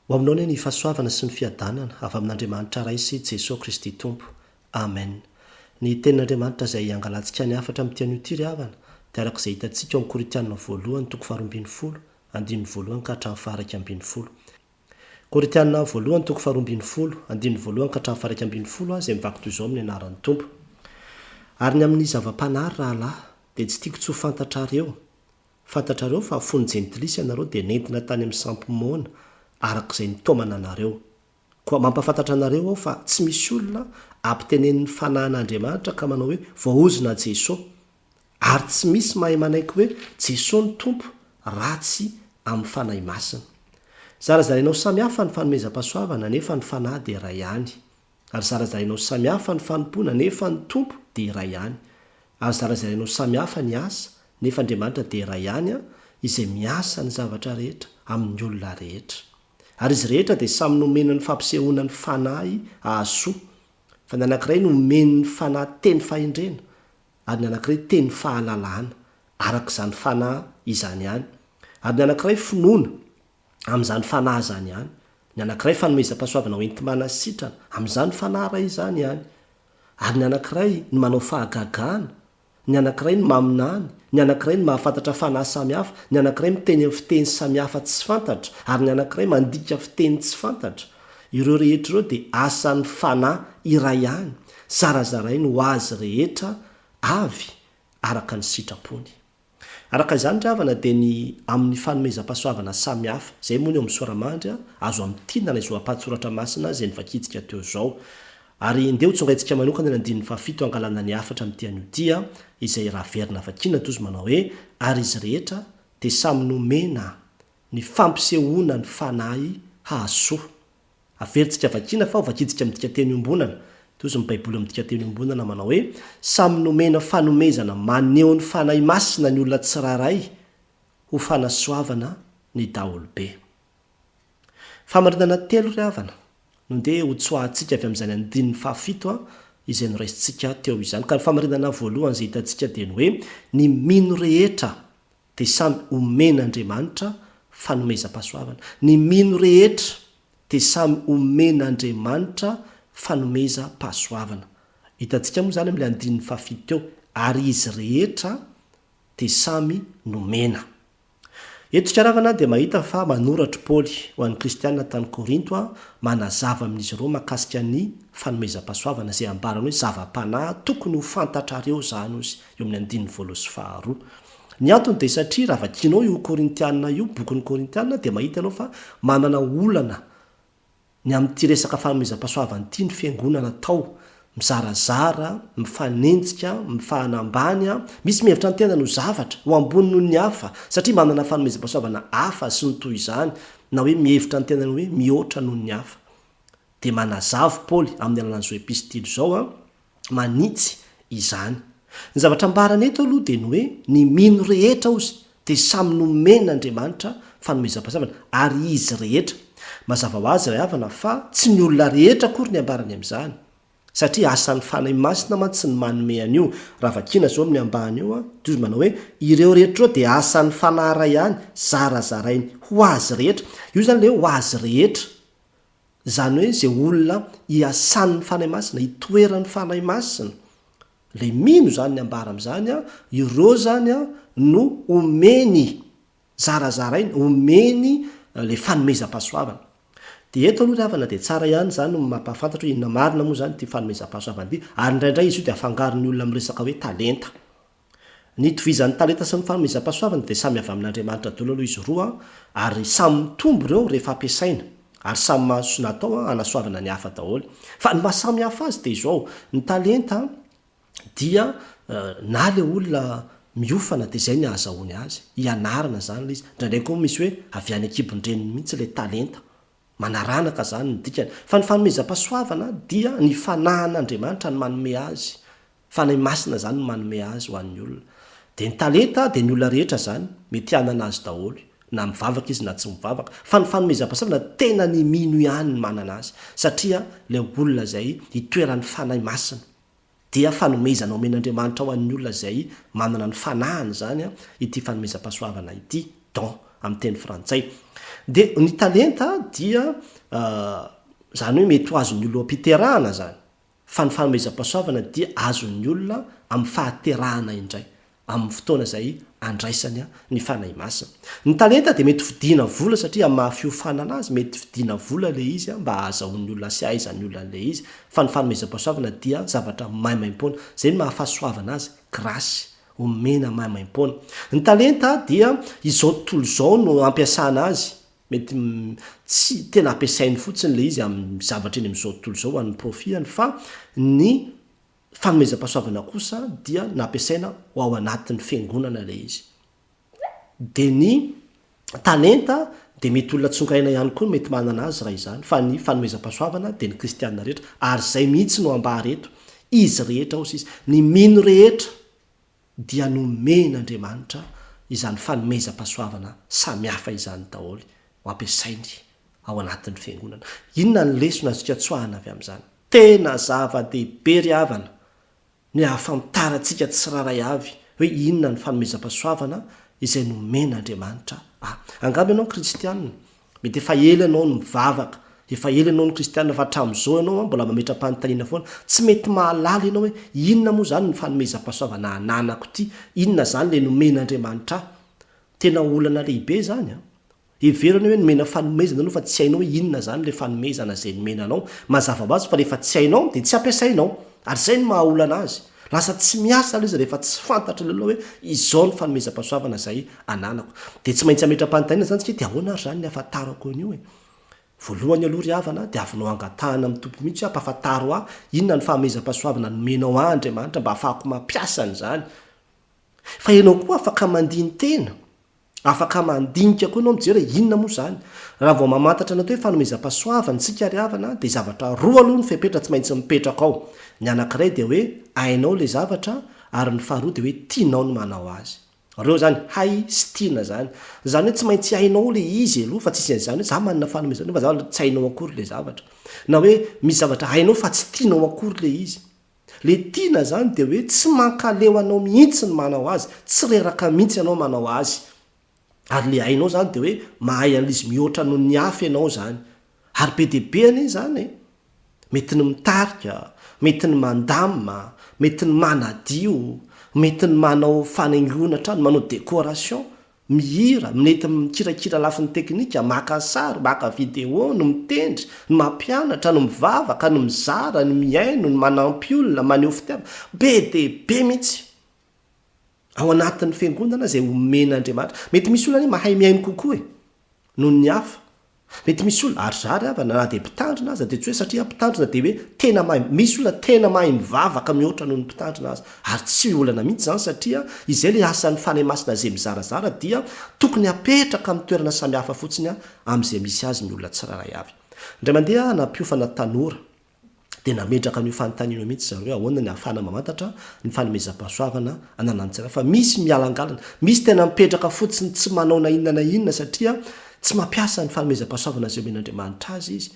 Ho aminao anie ny fahasoavana sy ny fiadanana avy amin'Andriamanitra Ray sy Jesoa Kristy Tompo. Amen. Ny Tenin'Andriamanitra izay angalantsika ny hafatra amin'ity anio ity ry havana dia araka izay hitantsika ao amin'ny Korintianina voalohany toko faharoa ambin'ny folo andininy voalohany ka hatramin'ny faha-iraika ambin'ny folo. Korintianina voalohany toko faharoa ambin'ny folo andininy voalohany ka hatramin'ny faha-iraika ambin'ny folo aho izay mivaky toy izao amin'ny anaran'ny Tompo ary ny amin'ny zava-panary rahalahy dia tsy tiako tsy ho fantatrareo Fantatrareo fa fony jentilisa ianareo dia nentina tany amin'ny sampy moana araka izay nitaomana anareo. Koa mampafantatra anareo aho fa tsy misy olona ampitenenin'ny Fanahin' Andriamanitra ka manao hoe voaozona Jeso. Ary tsy misy mahay manaiky hoe Jeso no Tompo raha tsy amin'ny Fanahy Masina. Zarazarainao samy hafa ny fanomezam-pahasoavana nefa ny Fanahy dia iray ihany. Ary zarazainao samy hafa ny fanompoana nefa ny Tompo dia iray ihany. Ary zarazainao samy hafa ny asa nefa Andriamanitra dia iray ihany an, izay miasa ny zavatra rehetra, amin'ny olona rehetra. Ary izy rehetra dia samy nomena ny fampisehoana ny Fanahy hahasoa. Fa ny anankiray nomeny ny Fanahy teny fahendrena, ary ny anankiray teny fahalalana, araka izany Fanahy izany ihany. Ary ny anankiray finoana, amin'izany fanahy izany ihany, ny anankiray fanomezam-pahasoavana ho enti-manasitrana amin'izany fanahy iray izany ihany, ary ny anankiray ny manao fahagagana, ny anankiray ny maminany, ny anankiray ny mahafantatra fanahy samihafa, ny anankiray miteny amin'ny fiteny samihafa tsy fantatra, ary ny anankiray mandika fiteny tsy fantatra. Ireo rehetra ireo dia asan'ny fanahy iray ihany, zarazarainy ho azy rehetra avy araka ny sitrapony. Araka izany ry havana dia ny amin'ny fanomezam-pahasoavana samihafa, izay moa ny eo amin'ny Soramandry, azo amintinana izao ampahan-tsoratra masina izay novakintsika teo izao. Ary ndeha ho tsongaintsika manokana ny andininy fahafito hangalana ny hafatra amin'ity anio ity an, izay raha averina vakiana toa izy manao hoe, ary izy rehetra dia samy nomena ny fampisehoana ny fanahy hahasoa Averintsika vakiana fa ho vakintsika amin'ny dikanteny iombonana. Toy izao ny Baiboly amin'ny dikanteny iombonana manao hoe, Samy nomena fanomezana maneho ny Fanahy Masina ny olona tsirairay ho fanasoavana ny daholobe. Famarinana telo, ry havana, no ndeha hotsoahantsika avy amin'izany andininy fahafito izay noraisintsika teo izany. Ka ny famarinana voalohany izay hitantsika dia ny hoe, ny mino rehetra dia samy omen'Andriamanitra fanomezam-pahasoavana. Ny mino rehetra dia samy omen'Andriamanitra fanomezam-pahasoavana. Hitantsika moa izany amin'ilay andininy fahafito teo, ary izy rehetra dia samy nomena. Eto Tsikiaravana dia mahita fa manoratr'i Paoly ho an'ny kristiana tany Korinto manazava amin'izy ireo makasika ny fanomezam-pahasoavana izay ambarany hoe zava-panahy tokony ho fantatrareo izany, ozy, eo amin'ny andininy voaloha sy faharoa. Ny antony dia satria raha vakianao io Korintiana io, bokin'ny Korintiana, dia mahita ianao fa manana olana ny amin'ity resaka fanomezam-pahasoavana ity ny fiangonana tao, mizarazara, mifanenjika, mifahana ambany, misy mihevitra ny tenany ho zavatra, ho ambony noho ny hafa, satria manana fanomezam-pahasoavana hafa sy ny toy izany, na hoe mihevitra ny tenany hoe mihoatra noho ny hafa. Dia manazava Paoly amin'ny alalan'izao epistily izao, manitsy izany. Ny zavatra ambarany eto aloha dia ny hoe ny mino rehetra ozy dia samy nomen' Andriamanitra fanomezam-pahasoavana ary izy rehetra. Mazava ho azy ry havana fa tsy ny olona rehetra akory ny ambarany amin'izany satria asan'ny Fanahy Masina mantsy ny manome an'io. Raha vakiana izao amin'ny ambany io dia manao hoe ireo rehetra ireo dia asan'ny Fanahy Ray ihany zarazarainy ho azy rehetra. Io izany ilay hoe ho azy rehetra. Izany hoe izay olona iasan'ny Fanahy Masina, itoeran'ny Fanahy Masina, ilay mino izany ny ambara amin'izany an, ireo izany an no omeny, zarazarainy, omeny ilay fanomezam-pahasoavana. Dia eto aloha ry havana dia tsara ihany izany no mampahafantatra hoe inona marina moa izany ity fanomezam-pahasoavana ity, ary indraindray izy io dia afangaron'ny olona amin'ny resaka hoe talenta. Ny itovizan'ny talenta sy ny fanomezam-pahasoavana dia samy avy amin'Andriamanitra daholo aloha izy roa ary samy mitombo ireo rehefa ampiasaina ary samy mahazo natao hanasoavana ny hafa daholo fa ny maha samy hafa azy dia izao ny talenta dia na ilay olona miofana dia izay ny ahazahoany azy, hianarana izany ilay izy, indraindray koa misy hoe avy any an-kibon-dreniny mihitsy ilay talenta Manaranaka izany ny dikany. Fa ny fanomezam-pahasoavana dia ny fanahan'Andriamanitra no manome azy. Fanahy Masina izany no manome azy ho an'ny olona. Dia ny talenta dia ny olona rehetra izany mety hanana azy daholo, na mivavaka izy na tsy mivavaka. Fa ny fanomezam-pahasoavana tena ny mino ihany no manana azy. Satria ilay olona izay itoeran'ny Fanahy Masina. Dia fanomezana omen'Andriamanitra ho an'ny olona izay manana ny fanahiny izany ity fanomezam-pahasoavana ity, don amin'ny teny frantsay. Dia ny talenta dia izany hoe mety ho azon'ny olona am-piterahana izany, fa ny fanomezam-pahasoavana dia azon'ny olona amin'ny fahaterahana indray. amin'ny fotoana izay andraisany ny Fanahy Masina. Ny talenta dia mety vidiana vola satria amin'ny maha fiofanana azy, mety vidiana vola ilay izy mba hahazahoan'ny olona sy hahaizan'ny olona an'ilay izy. Fa ny fanomezam-pahasoavana dia zavatra maimaimpoana. Izay no maha fahasoavana azy, grasy omena maimaimpoana. Ny talenta dia izao tontolo izao no ampiasana azy. Mety tsy tena ampiasainy fotsiny ilay izy amin'ny zavatra eny amin'izao tontolo izao ho an'ny profiany fa ny Fanomezam-pahasoavana kosa dia nampiasaina ho ao anatin'ny fiangonana ilay izy. Dia ny talenta dia mety olona tsongaina ihany koa no mety manana azy raha izany, fa ny fanomezam-pahasoavana dia ny kristiana rehetra, ary izay mihitsy no ambara eto, izy rehetra hoy sisa, ny mino rehetra. dia nomen'Andriamanitra izany fanomezam-pahasoavana samihafa izany daholo ho ampiasainy ao anatin'ny Fiangonana. Inona ny lesona azontsika tsoahana avy amin'izany? Tena zava-dehibe ry havana ny hahafantarantsika tsirairay avy hoe inona ny fanomezam-pahasoavana izay nomen'Andriamanitra ahy. Angamba ianao kristiana, Mety efa ela ianao no mivavaka, efa ela ianao no kristiana fa hatramin'izao ianao an, mbola mametra-panontaniana foana. Tsy mety mahalala ianao hoe inona moa izany ny fanomezam-pahasoavana ananako ity, inona izany ilay nomen'Andriamanitra ahy. Tena olana lehibe izany an! Hevero ianao hoe nomena fanomezana ianao fa tsy hainao hoe inona izany ilay fanomezana izay nomena anao. Mazava ho azy fa rehefa tsy hainao dia tsy ampiasainao, ary izay no maha-olana azy. Lasa tsy miasa ilay izy rehefa tsy fantatry ny olona hoe izao ny fanomezam-pahasoavana izay ananako. Dia tsy maintsy hametra-panontaniana izany isika hoe dia ahoana ary izany ny hahafantarako an'io e? Voalohany aloha ry havana, diavinao angatahana amin'ny Tompo mihitsy hoe ampahafantaro ahy inona ny fahamezam-pahasoavana nomenao ahy Andriamanitra mba hahafahako mampiasa an'izany. Fa ianao koa afaka mandini-tena. Afaka mandinika koa ianao mijery hoe inona moa izany. Raha vao mamantatra ny atao hoe fanomezam-pahasoavana isika ary havana dia zavatra roa aloha no fepetra tsy maintsy mipetraka ao. Ny anankiray dia hoe hainao ilay zavatra ary ny faharoa dia hoe tianao ny manao azy. Roa izany, hay sy tiana izany. Izany hoe tsy maintsy hainao ilay izy aloha fa tsisy an'izany hoe za manana fanomezana fa za tsy hainao akory ilay zavatra. Na hoe misy zavatra hainao fa tsy tianao akory ilay izy. Le tiana zany de hoe tsy mankaleo anao mihitsy ny manao azy, tsy reraka mihitsy ianao manao azy. Ary le hainao zany de hoe mahay an'izy mihoatra noho ny hafa ianao zany. Ary be dia be anie zany e! Mety ny mitarika, mety ny mandamina, mety ny manadio, mety ny manao fanaingoana trano, manao décoration. mihira, minety mikirakira lafiny teknika, maka sary, maka video, ny mitendry, ny mampianatra, ny mivavaka, ny mizara, ny mihaino, ny manampy olona, maneho fitiavana. Be dia be mihitsy ao anatin'ny Fiangonana izay omen'Andriamanitra. Mety misy olona anie mahay mihaino kokoa e, noho ny hafa, Mety misy olona, ary zary havana, na dia mpitandrina aza dia tsy hoe satria mpitandrina dia hoe tena mahay, misy olona tena mahay mivavaka mihoatra noho ny mpitandrina aza, ary tsy olana mihitsy izany satria izay ilay asan'ny Fanahy Masina izay mizarazara dia tokony hapetraka amin'ny toerana samihafa fotsiny amin'izay misy azy ny olona tsirairay avy. Indray mandeha aho nampiofana tanora. dia nametraka an'io fanontaniana io mihitsy zareo hoe ahoana ny ahafahana mamantatra ny fanomezam-pahasoavana ananan'ny tsirairay fa misy mihalangalana, misy tena mipetraka fotsiny tsy manao na inona na inona satria tsy mampiasa ny fanomezam-pahasoavana izay omen'Andriamanitra azy izy.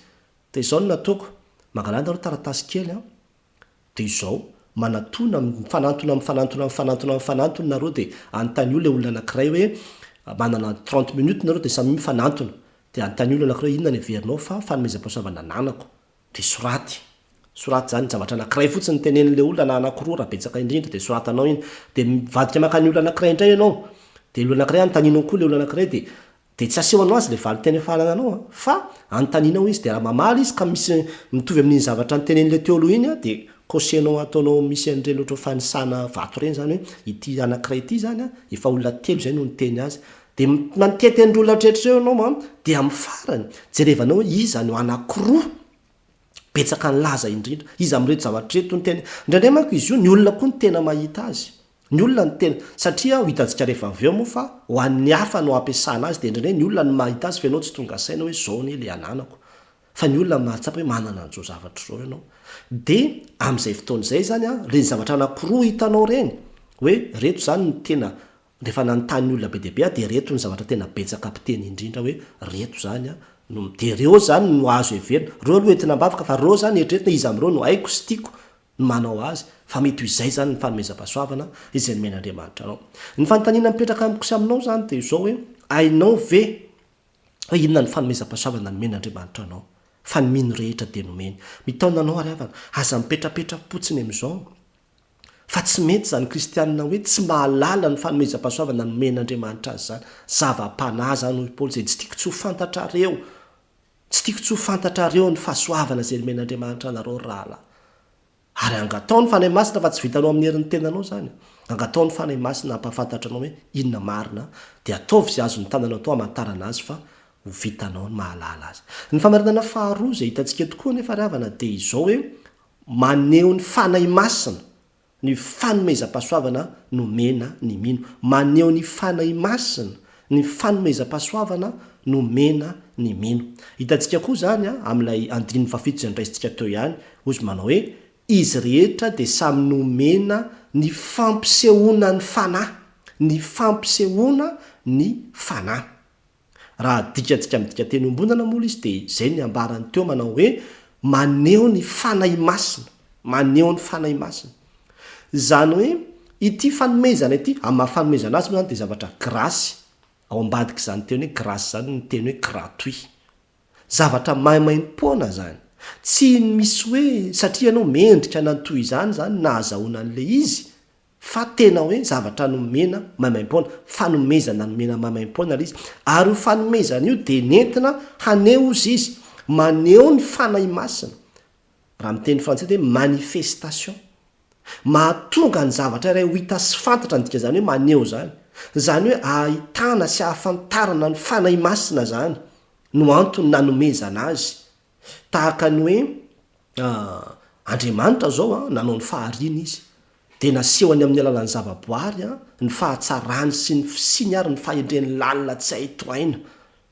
Dia izao no nataoko, mangalana aloha taratasy kely an, dia izao, manatona, mifanantona, mifanantona, mifanantona, mifanantona nareo dia anontanio ilay olona anankiray hoe, manana trente minutes nareo dia samy mifanantona, dia anontanio ilay anankiray hoe inona no heverinao fa fanomezam-pahasoavana ananako. Dia soraty. Soraty izany zavatra anankiray fotsiny tenenin'ilay olona na anankiroa raha betsaka indrindra dia soratanao iny. Dia mivadika mankany olona anankiray indray ianao. Dia ilay olona anankiray anontanianao koa ilay olona anankiray dia dia tsy asehonao azy ilay valin-teny efa anananao an. Fa anontanianao izy dia raha mamaly izy ka misy mitovy amin'iny zavatra notenenin'ilay teo aloha iny an dia kosehinao ataonao misy an'ireny ohatran'ny fanisana vato ireny izany hoe ity anankiray ity izany an efa olona telo izay no niteny azy. Dia mitety an'ireo laotretra ireo ianao an, dia amin'ny farany, jerevanao hoe iza no anankiroa betsaka nilaza indrindra. Iza amin'ireto zavatra ireto no tena. Indraindray manko izy io, ny olona koa no tena mahita azy. Ny olona no tena. Satria hitantsika rehefa avy eo moa fa ho an'ny hafa no ampiasana azy, dia indraindray ny olona no mahita azy fa ianao tsy tonga saina hoe izao anie ilay ananako. Fa ny olona no mahatsapa hoe manana an'izao zavatra izao ianao. Dia amin'izay fotoana izay izany an, ireny zavatra anankiroa hitanao ireny, hoe ireto izany no tena Rehefa nanontany ny olona be dia be aho dia ireto ny zavatra tena betsaka mpiteny indrindra hoe reto zany no dia reo zany no azo heverina, reo aloha entina ambavaka fa reo zany eritreretina iza amin'ireo no haiko sy tiako ny manao azy fa mety ho izay zany ny fanomezam-pahasoavana izay nomen'Andriamanitra anao. Ny fanontaniana mipetraka amiko sy aminao zany dia izao hoe hainao ve hoe inona no fanomezam-pahasoavana nomen'Andriamanitra anao fa ny mino rehetra dia nomeny. Mitaona anao ary havana aza mipetrapetra-potsiny amin'izao Fa tsy mety izany kristianina hoe tsy mahalala ny fanomezam-pahasoavana nomen'Andriamanitra azy izany. Zava-panahy izany hoy Paoly izay tsy tiako tsy ho fantatrareo. Tsy tiako tsy ho fantatrareo ny fahasoavana izay nomen'Andriamanitra anareo ry rahalahy. Ary angataho ny Fanahy Masina fa tsy vitanao amin'ny herin'ny tenanao izany. Angataho ny Fanahy Masina hampahafantatra anao hoe inona marina dia ataovy izay azon'ny tananao atao hamantarana azy fa ho vitanao ny mahalala azy. Ny famarinana faharoa izay hitantsika eto koa anefa ry havana dia izao hoe Maneho ny Fanahy Masina ny fanomezam-pahasoavana nomena ny mino. Maneho ny Fanahy Masina ny fanomezam-pahasoavana nomena ny mino. Hitantsika koa izany amin'ilay andininy fahafito izay noraisintsika teo ihany. Hoy izy manao hoe, Izy rehetra dia samy nomena ny fampisehoana ny Fanahy. Ny fampisehoana ny Fanahy. Raha adikantsika amin'ny dikateny iombonana moa izy dia izay ny ambarany teo manao hoe maneho ny Fanahy Masina, maneho ny Fanahy Masina. Izany hoe ity fanomezana ity, amin'ny maha fanomezana azy moa izany dia zavatra grasy, ao ambadik'izany teny hoe grasy izany ny teny hoe gratuit. Zavatra maimaim-poana izany. Tsy misy hoe satria ianao mendrika nanao toy izany izany nahazahoana an'ilay izy, fa tena hoe zavatra nomena maimaimpoana, fanomezana nomena maimaimpoana ilay izy, ary io fanomezana io dia nentina haneho hozy izy, maneho ny Fanahy Masina, raha amin'ny teny frantsay dia hoe manifestation, mahatonga ny zavatra iray ho hita sy fantatra ny dikan'izany hoe maneho izany, izany hoe ahitana sy ahafantarana ny Fanahy Masina izany no antony nanomezana azy Tahaka ny hoe Andriamanitra izao nanao ny fahariana Izy, dia nasehony amin'ny alalan'ny zavaboary ny fahatsarany sy ny fisiany ary ny fahendreny lalina tsy hay tohaina.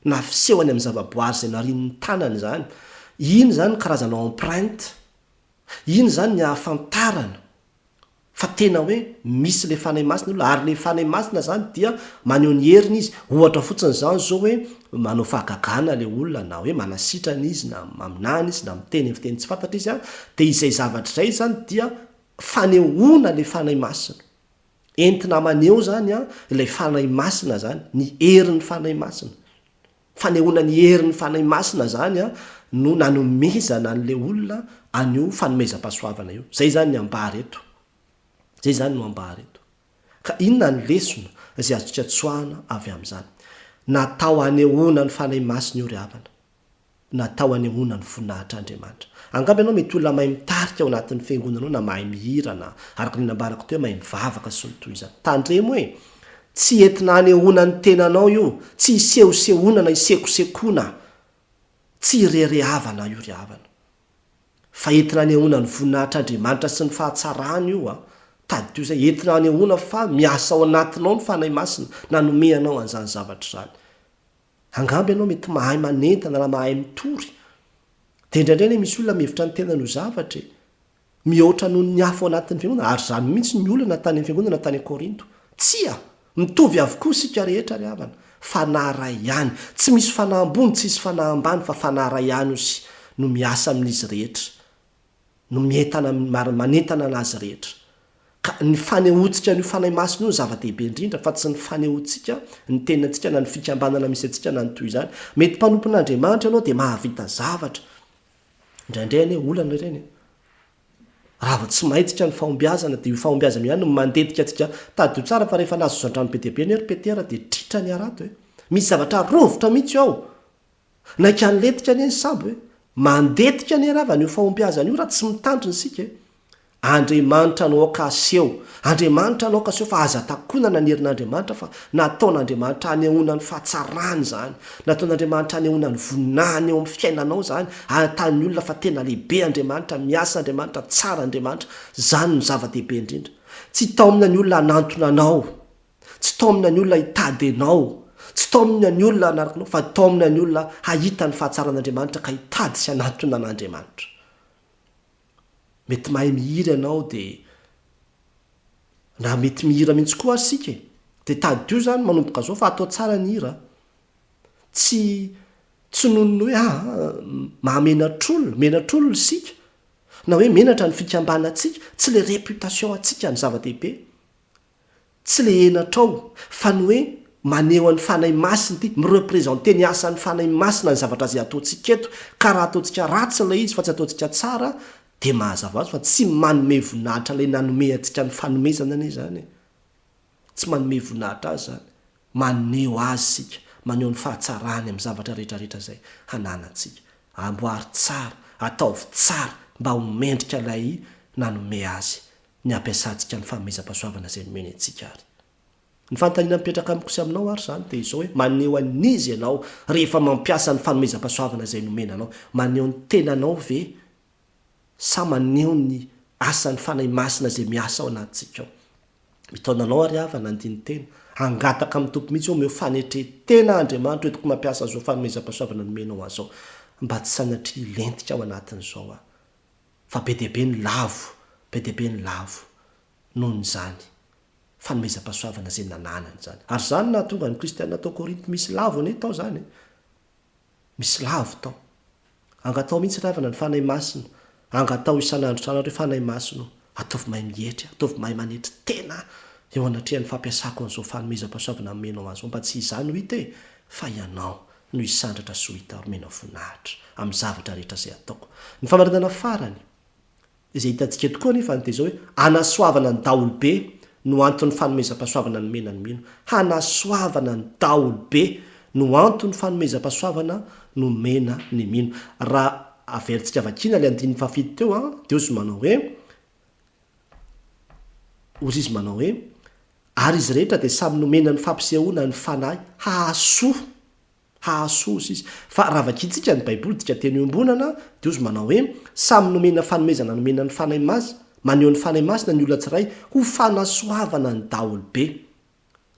Nafisehony amin'ny zavaboary izay narian'ny tanany izany. Iny izany ny karazana empreinte. Iny izany ny ahafantarana fa tena hoe misy le fanahy masina olona ary le fanahy masina zany dia maneho ny heriny izy ohatra fotsiny zany zao hoe manao fahagagana le olona na hoe manasitrana izy na maminany izy na miteny ny fiteny tsy fantatra izy a dia izay zavatra izay zany dia fanehoana le fanahy masina entina maneho zany a ilay fanahy masina zany ny herin'ny fanahy masina Fanehoana ny herin'ny Fanahy Masina izany no nanomezana an'ilay olona an'io fanomezam-pahasoavana io. Izay izany ny ambara eto. Izay izany no ambara eto. Ka inona ny lesona izay azontsika tsoahana avy amin'izany? Natao hanehoana ny Fanahy Masina io ry havana. Natao hanehoana ny voninahitr'Andriamanitra. Angamba ianao mety olona mahay mitarika ao anatin'ny fiangonanao na mahay mihira na, araka ny nambarako teo, mahay mivavaka sy ny toy izany. Tandremo hoe, Tsy entina hanehoana ny tenanao io, tsy hisehosehoana na hisekosekoana, tsy hireharehavana io ry havana. Fa entina hanehoana ny voninahitr'Andriamanitra sy ny fahatsarany io an! Tadidio izay, entina hanehoana fa miasa ao anatinao ny Fanahy Masina nanome anao an'izany zavatra izany. Angamba ianao mety mahay manentana na mahay mitory. Dia indraindray anie misy olona mihevitra ny tenany ho zavatra e. Mihoatra noho ny hafa ao anatin'ny fiangonana, ary izany mihitsy ny olana tany amin'ny fiangonana tany Korinto. Tsia! Mitovy avokoa isika rehetra ry havana. Fanahy iray ihany. Tsy misy fanahy ambony, tsy hisy fanahy ambany, fa fanahy iray ihany osy no miasa amin'izy rehetra. no mientana amin'ny, manentana an'azy rehetra. Ka ny fanehoantsika an'io Fanahy Masina io no zava-dehibe indrindra, fa tsy ny fanehoantsika ny tenantsika na ny fikambanana misy antsika na ny toy izany. Mety mpanompon'Andriamanitra ianao dia mahavita zavatra, indraindray anie olana ireny e! Raha vao tsy maintsika ny fahombiazana dia io fahombiazana io ihany no mandetika antsika. Tadidio tsara fa rehefa nazozoan-drano be dia be anie ry Petera dia tritra ny harato e! Misy zavatra rovitra mihitsy ao! Naika nilentika anie ny sambo e! Mandetika anie ravana io fahombiazana io raha tsy mitandrina isika e! Andriamanitra no aoka aseho, Andriamanitra no aoka aseho fa aza takonana ny herin'Andriamanitra fa nataon'Andriamanitra hanehoana ny fahatsarany izany, nataon'Andriamanitra hanehoana ny voninahiny eo amin'ny fiainanao izany, ahitàn'ny olona fa tena lehibe Andriamanitra, miasa Andriamanitra, tsara Andriamanitra, izany no zava-dehibe indrindra. Tsy hitaomina ny olona hanantona anao Tsy taomina ny olona hitady anao, tsy taomina ny olona hanaraka anao, fa taomina ny olona hahita ny fahatsaran'Andriamanitra ka hitady sy hanatona an'Andriamanitra. Mety mahay mihira ianao dia na mety mihira mihitsy koa ary isika e, dia tadidio izany manomboka izao fa atao tsara ny hira a. Tsy tsy noho ny hoe ah mahamenatr'olona, menatr'olona isika, na hoe menatra ny fikambanantsika, tsy ilay réputation antsika no zava-dehibe, Tsy le henatrao fa ny hoe maneho an'ny Fanahy Masina ity, mi-representer ny asan'ny Fanahy Masina ny zavatra izay ataontsika eto, ka raha ataontsika ratsy ilay izy fa tsy ataontsika tsara dia mahazava azy fa tsy manome voninahitra ilay nanome antsika ny fanomezana anie izany e! Tsy manome voninahitra azy izany, maneho azy isika, maneho ny fahatsarany amin'ny zavatra rehetrarehetra izay hananantsika. Amboary tsara, ataovy tsara mba ho mendrika ilay nanome azy ny hampiasantsika ny fanomezam-pahasoavana izay nomeny antsika àry. Ny fanontaniana mipetraka amiko sy aminao àry izany dia izao hoe, Maneho an'iza ianao rehefa mampiasa ny fanomezam-pahasoavana izay nomena anao? Maneho ny tenanao ve sa maneho ny asan'ny Fanahy Masina izay miasa ao anatintsika ao? Mitaona anao àry aho fa nandini-tena, hangataka amin'ny Tompo mihitsy hoe omeo fanetren-tena Andriamanitra hoentiko mampiasa an'izao fanomezam-pahasoavana nomenao ahy izao, mba tsy sanatria hilentika ao anatin'izao aho. fa be dia be ny lavo, be dia be ny lavo noho izany fanomezam-pahasoavana izay nananany izany. Ary izany no nahatonga ny Kristianina tao Korinto misy lavo anie tao izany e! Misy lavo tao. Angataho mihitsy ry havana ny Fanahy Masina, angataho isan'andro isan'andro hoe Fanahy Masina o, ataovy mahay mietry aho, ataovy mahay manetry tena aho eo anatrehan'ny fampiasako an'izao fanomezam-pahasoavana nomenao ahy izao, mba tsy izany ho hita e, fa Ianao. no hisandratra sy ho hita omena voninahitra amin'ny zavatra rehetra izay ataoko. Ny famarinana farany, izay hitantsika eto koa anefa no dia izao hoe, Hanasoavana ny daholobe no anton'ny fanomezam-pahasoavana nomena ny mino. Hanasoavana ny daholobe no anton'ny fanomezam-pahasoavana nomena ny mino. Raha averintsika vakiana ilay andininy fahafito teo, dia hoy izy manao hoe, Hozy izy manao hoe, Ary izy rehetra dia samy nomena ny fampisehoana ny Fanahy, hahasoa. Hahasoa, hozy izy. Fa raha vakintsika ny Baiboly dika teny iombonana, dia hozy manao hoe, Samy nomena fanomezana nomena ny Fanahy Masina, maneho ny Fanahy Masina ny olona tsiray ho fanasoavana ny daholobe.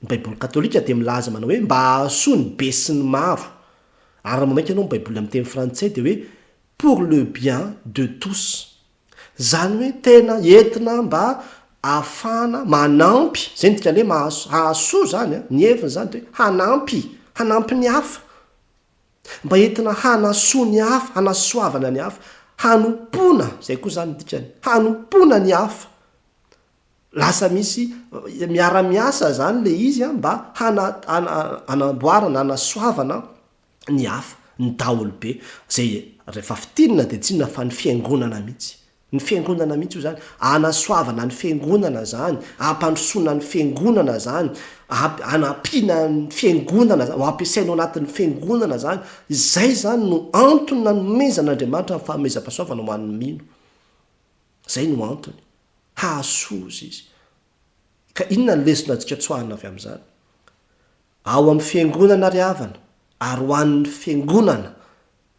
Ny Baiboly katolika dia milaza manao hoe mba hahasoa ny be sy ny maro. Ary raha mamaky ianao ny Baiboly amin'ny teny frantsay dia hoe pour le bien de tous. Izany hoe tena entina mba ahafahana manampy, izay ny dikan'ny hoe maha, hahasoa izany an, ny heviny izany dia hoe hanampy, hanampy ny hafa, mba entina hanasoa ny hafa, hanasoavana ny hafa, hanompoana, izay koa izany ny dikany, hanompoana ny hafa. Lasa misy miara-miasa izany ilay izy an, mba hana, hana, hanamboarana, hanasoavana ny hafa, ny daholobe, izay rehefa fintinina dia tsy inona fa ny fiangonana mihitsy. Ny fiangonana mihitsy hoy izany, hanasoavana ny fiangonana izany, hampandrosoana ny fiangonana izany, hamp- hanampiana ny fiangonana izany, ho ampiasaina ao anatin'ny fiangonana izany. Izay izany no antony nanomezan'Andriamanitra ny fanomezam-pahasoavana ho an'ny mino. Izay no antony. Hahasoa hozy izy. Ka inona ny lesona antsika tsoahina avy amin'izany? Ao amin'ny Fiangonana ry havana, ary ho an'ny Fiangonana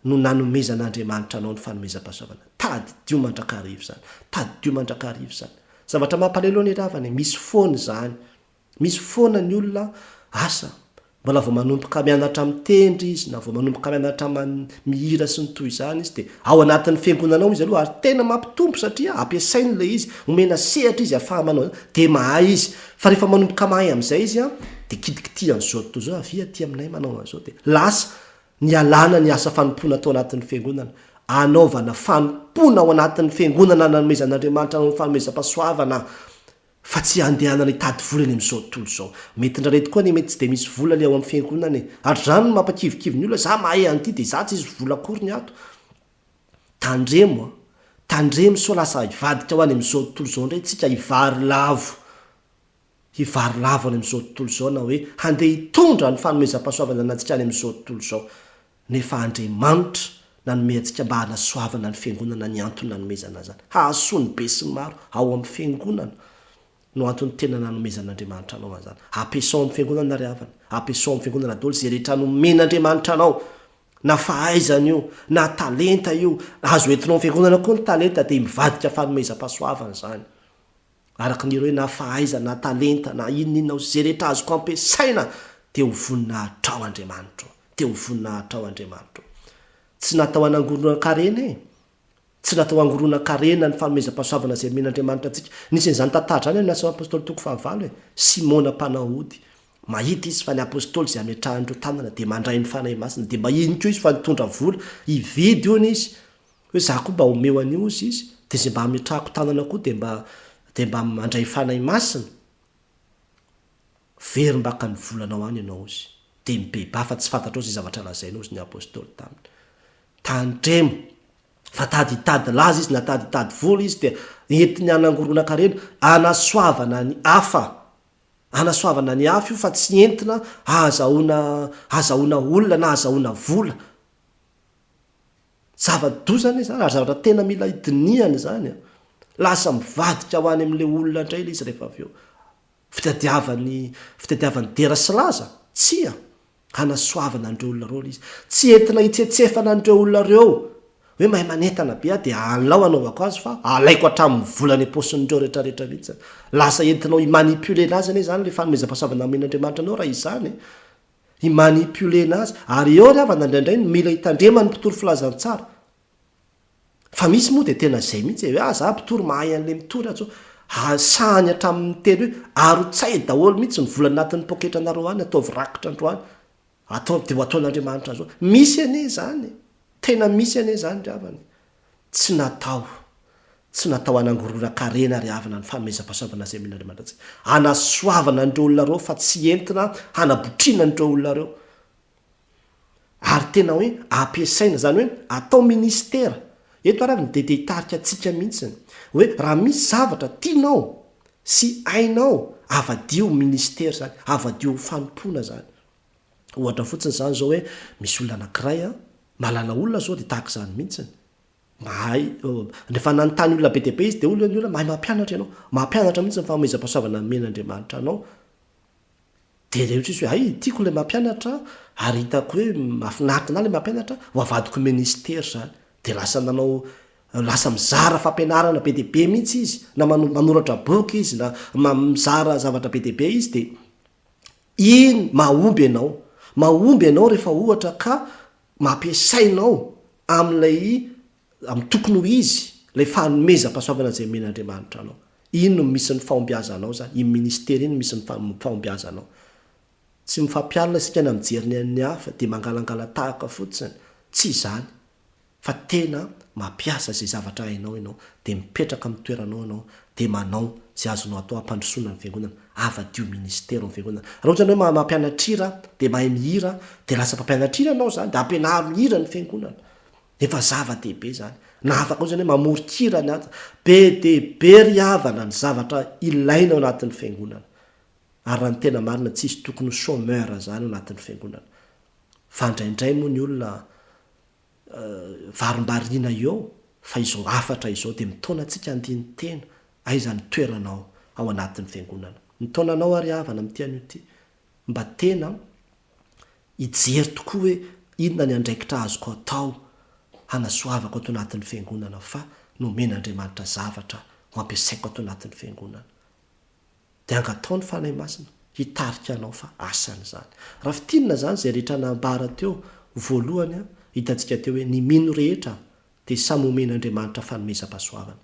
no nanomezan'Andriamanitra anao ny fanomezam-pahasoavana. Tadidio mandrakariva izany. Tadidio mandrakariva izany. Zavatra mampalahelo anie ry havana e, misy foana izany. Misy foana ny olona, asa, Mbola vao manomboka mianatra mitendry izy na vao manomboka mianatra mihira sy ny toy izany izy dia ao anatin'ny fiangonana ao izy aloha ary tena mampitombo satria ampiasainy ilay izy, omena sehatra izy ahafahany manao izany dia mahay izy. Fa rehefa manomboka mahay amin'izay izy an, dia kitikitihany izao tontolo izao, avia aty aminay manao an'izao dia lasa nialana ny asa fanompoana tao anatin'ny fiangonana, anaovana fanompoana ao anatin'ny fiangonana nanomezan'Andriamanitra anao ny fanomezam-pahasoavana fa tsy handehanana hitady vola eny amin'izao tontolo izao. Mety indraindray tokoa anie mety tsy dia misy vola le ao amin'ny fiangonana e! Ary izany no mampakivikivy ny olona, za mahay an'ity dia za tsisy vola akory ny ato. Tandremo an! Tandremo sao lasa hivadika ho any amin'izao tontolo izao indray tsika hivary lavo, hivary lavo any amin'izao tontolo izao na hoe handeha hitondra ny fanomezam-pahasoavan'Andrianantsika any amin'izao tontolo izao. Nefa Andriamanitra nanome antsika mba hanasoavana ny Fiangonana ny antony nanomezana an'izany. Hahasoa ny besinimaro ao amin'ny Fiangonana no antony tena nanomezan'Andriamanitra anao an'izany. Ampiasao amin'ny Fiangonana ry havana. Ampiasao amin'ny Fiangonana daholo izay rehetra nomen'Andriamanitra anao, na fahaizana io, na talenta io. Azo entinao amin'ny Fiangonana koa ny talenta dia mivadika fanomezam-pahasoavana izany. araka ny ireo na fahaiza na talenta na inon'inona ho izay rehetra azoko ampiasaina dia ho voninahitrao Andriamanitro dia ho voninahitrao Andriamanitro tsy natao hanangoronan-karena e tsy natao hangoronan-karena ny fanomezam-pahasoavana izay omen'Andriamanitra antsika nisy an'izany tantara izany amin'ny asan'ny apostoly toko fahavalo e Simona mpanao ody mahita izy fa ny apostoly izay ametrahan'ireo tanana dia mandray ny fanahy masina dia mba iny koa izy fa nitondra vola hividy hono izy Hoe za koa mba omeo an'io ozy izy de ze mba ametrahako tanana koa de mba de mba mandray fanahy masina very mbaka ny volanao any ianao ozy de mibebà fa tsy fantatrao ze zavatra lazainy ozy ny apostoly taminy tandremo fa tady hitady laza izy na tady hitady vola izy dia entiny hanangoronan-karena hanasoavana ny hafa hanasoavana ny hafa io fa tsy entina hahazahoana hahazahoana olona na hahazahoana vola Zava-doza anie izany, ary zavatra tena mila hidinihana izany an! Lasa mivadika ho any amin'ilay olona indray ilay izy rehefa avy eo. Fitadiavany, fitadiavany dera sy laza? Tsia! Hanasoavana an'ireo olona ireo ilay izy. Tsy entina hitsetsefana an'ireo olona ireo hoe mahay manentana be aho dia alao hanaovako azy fa alaiko hatramin'ny vola any am-paosin'ireo rehetrarehetra mihitsy an! Lasa entinao hi-manipuler-na azy anie izany ilay fanomezam-pahasoavana amin'Andriamanitra anao raha izany e! hi-manipuler-na azy, ary eo ry havana indraindray no mila hitandreman'ny mpitory filazantsara. Fa misy moa dia tena izay mihitsy e, hoe ah za mpitory mahay an'ilay mitory atsy hoe ah, sahany hatramin'ny teny hoe arotsay daholo mihitsy ny vola anatin'ny poketranareo any, ataovy rakitra androany, ataovy dia ho ataon'Andriamanitra zao. Misy anie izany e, tena misy anie izany ry havana e. Tsy natao, tsy natao hanangoronan-karena ary havana ny fanomezam-pahasoavana izay omen'Andriamanitra antsika. Hanasoavana an'ireo olona ireo fa tsy entina hanabotriana an'ireo olona ireo. Ary tena hoe ampiasaina, izany hoe atao ministera. Eto ary avy ny diede hitarika antsika mihitsy. Hoe raha misy zavatra tianao sy hainao, havadio ho ministera izany, havadio ho fanompoana izany. Ohatra fotsiny izany izao hoe misy olona anankiray an, mahalala olona izao dia tahaka izany mihitsiny. Mahay rehefa nanontany olona be dia be izy dia hoy ny olona mahay mampianatra ianao. Mampianatra mihitsy ny fanomezam-pahasoavana nomen'Andriamanitra anao. Dia ilay ohatry ny hoe hay tiako ilay mampianatra ary hitako hoe mahafinaritra anah ilay mampianatra, ho avadiko minisitera izany. Dia lasa nanao lasa mizara fampianarana be dia be mihitsy izy na manoratra boky izy na mizara zavatra be dia be izy dia Iny mahomby ianao. Mahomby ianao rehefa ohatra ka mampiasainao amin'ilay amin'ny tokony ho izy ilay fanomezam-pahasoavana izay omen'Andriamanitra anao. Iny no misy ny fahombiazanao izany, iny ministera iny no misy ny fahombiazanao. Tsy mifampialona isika na mijery ny an'ny hafa dia mangalangala-tahaka fotsiny. Tsy izany. fa tena mampiasa izay zavatra hainao ianao dia mipetraka amin'ny toeranao ianao dia manao izay azonao atao hampandrosoana ny fiangonana, havadio minisitera ao amin'ny fiangonana. Raha ohatra ianao mahay mampianatra hira dia mahay mihira dia lasa mpampianatra hira ianao izany dia ampianaro mihira ny fiangonana. Efa zava-dehibe izany. Na afaka ohatra ianao hoe mamoron-kira ny aty. Be dia be ry havana ny zavatra ilaina ao anatin'ny fiangonana. Ary raha ny tena marina tsy hisy tokony ho chômeur izany ao anatin'ny fiangonana. Fa indraindray moa ny olona varimbariana eo fa izao hafatra izao dia mitaona antsika handiny tena aiza ny toeranao ao anatin'ny fiangonana. Mitaona anao aho ry havana amin'ity anio ity mba tena hijery tokoa hoe inona ny andraikitra azoko atao hanasoavako ato anatin'ny fiangonana fa nomen'Andriamanitra zavatra ho ampiasaiko ato anatin'ny fiangonana. Dia angatao ny Fanahy Masina hitarika anao fa asany izany. Raha fintinina izany izay rehetra nambara teo voalohany an, hitantsika teo hoe ny mino rehetra dia samy homen'Andriamanitra fanomezam-pahasoavana.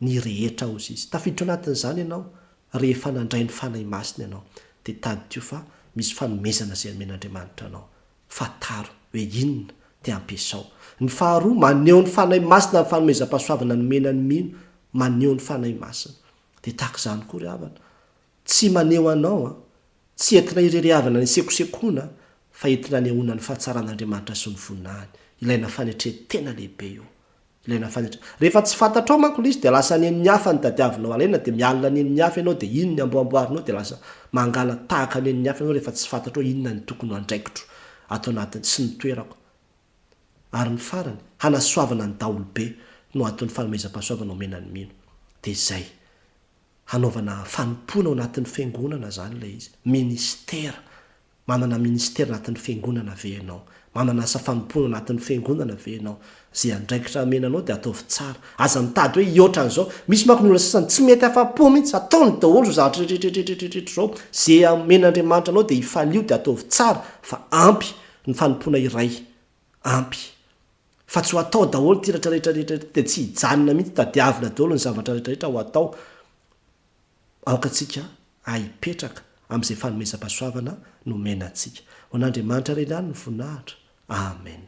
Ny rehetra hozy Izy. Tafiditra ao anatin'izany ianao rehefa nandray ny Fanahy Masina ianao. Dia tadidio fa misy fanomezana izay nomen'Andriamanitra anao. fa taro hoe inona dia ampiasao. Ny faharoa, maneho ny Fanahy Masina ny fanomezam-pahasoavana nomena ny mino, maneho ny Fanahy Masina. Dia tahaka izany koa ry havana. Tsy maneho anao an! Tsy entina irery havana ny sekosekoana fa entina anehoana ny fahatsaran'Andriamanitra sy ny voninahiny. Ilaina fanetren-tena lehibe io. Ilay nafantatra. Rehefa tsy fantatrao manko ilay izy dia lasa any amin'ny hafa no tadiavinao alaina dia mialona any amin'ny hafa ianao dia iny ny amboamboarinao dia lasa mangala tahaka any amin'ny hafa ianao rehefa tsy fantatrao inona ny tokony ho andraikitro ato anatiny sy ny toerako. Ary ny farany, hanasoavana ny daholobe no anton'ny fanomezam-pahasoavana omena ny mino. Dia izay. Hanaovana fanompoana ao anatin'ny fiangonana izany ilay izy. Ministera. Manana ministera anatin'ny Fiangonana ve ianao? Manana asa fanompoana anatin'ny Fiangonana ve ianao? Izay andraikitra amena anao dia ataovy tsara. Aza mitady hoe hihoatra an'izao. Misy manko ny olona sasany tsy mety afa-po mihitsy. Ataony daholo izao zavatra rehetrarehetrarehetra izao. Izay amen'Andriamanitra anao dia hifalio dia ataovy tsara fa ampy ny fanompoana iray. Ampy. Fa tsy ho atao daholo ity rehetrarehetrarehetra ity dia tsy hijanona mihitsy. Tadiavina daholo ny zavatra rehetrarehetra ho atao. Aoka antsika ahipetraka amin'izay fanomezam-pahasoavana nomena antsika. Ho an'Andriamanitra irery ihany ny voninahitra. Amen.